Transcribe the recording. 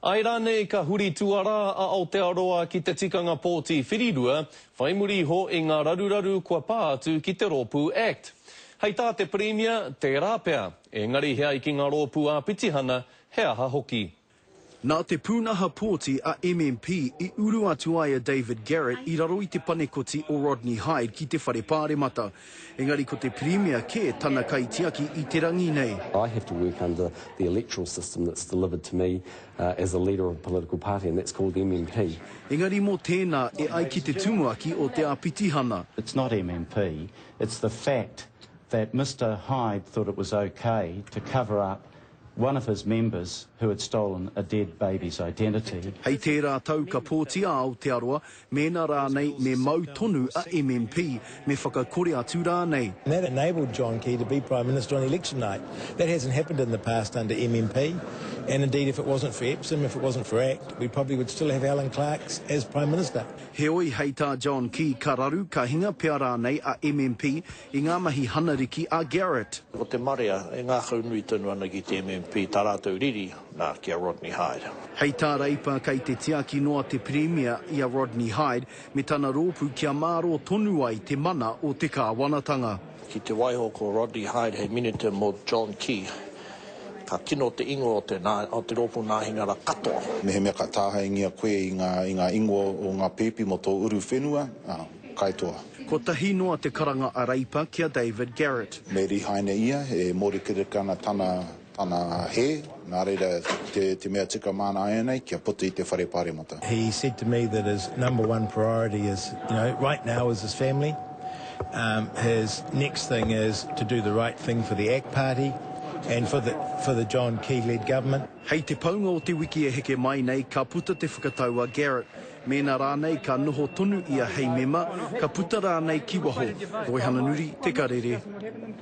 I rānei ka huri tuarā a Aotearoa ki te tikanga pōti whirirua, whai muri iho i ngā raruraru kua pā atu ki te rōpū Act. Hei tā te Pirimia, tērā pea, engari he ai ki ngā rōpū ā-pitihana, he aha hoki. Nā te pūnaha pōti a MMP i uru atu ai a David Garrett i raro i te panekoti o Rodney Hide ki te Whare Pāremata. Engari ko te Pirimia kē tana kaitiaki i te rangi nei. I have to work under the electoral system that's delivered to me as a leader of a political party and that's called MMP. Engari mō tēnā e ai ki te tumuaki o te āpitihana. It's not MMP, it's the fact that Mister Hyde thought it was okay to cover up one of his members who had stolen a dead baby's identity. Hei tērā tau ka pōti a Aotearoa, mēnā rānei me mau tonu a MMP, me whakakore atu rānei. And that enabled John Key to be Prime Minister on election night. That hasn't happened in the past under MMP, and indeed if it wasn't for Epsom, if it wasn't for act, we probably would still have Alan Clarks as Prime Minister. Heoi, hei tā John Key ka raru, ka hinga pea rānei a MMP i ngā mahi hanariki a Garrett. Ko te marea e ngākau nui tonu ana ki te MMP tā rātou riri, nā, ki a Rodney Hide. Hei tā Reipa kei te tiaki noa te Pirimia i a Rodney Hide me tana rōpū kia mārō tonu ai te mana o te kāwanatanga. Ki te waiho ko Rodney Hide hei minita mō John Key, ka kino te ingoa o te nā, o te rōpū nāhinara katoa. Mehemea ka tāhaengia koe i ngā, i ngā ingoa o ngā pēpi mō tō uru whenua, ā. Kaitoa. Kotahi noa te karanga a Reipa ki a David Garrett. Me rihaina ia, e mōrekereke ana tana, tana hē, nā reira, te, te mea tika māna ēnei, kia puta i te whare pāremata. He said to me that his number one priority is, you know, right now is his family. Um, his next thing is to do the right thing for the ak Party and for the, for the John Key-led government. Hei te paunga o te wiki e heke mai nei, ka puta te whakatau a Garrett, Mēnā rānei ka noho tonu ia hei mema, ka puta rānei ki waho, Roihana Nuri, Te Karere.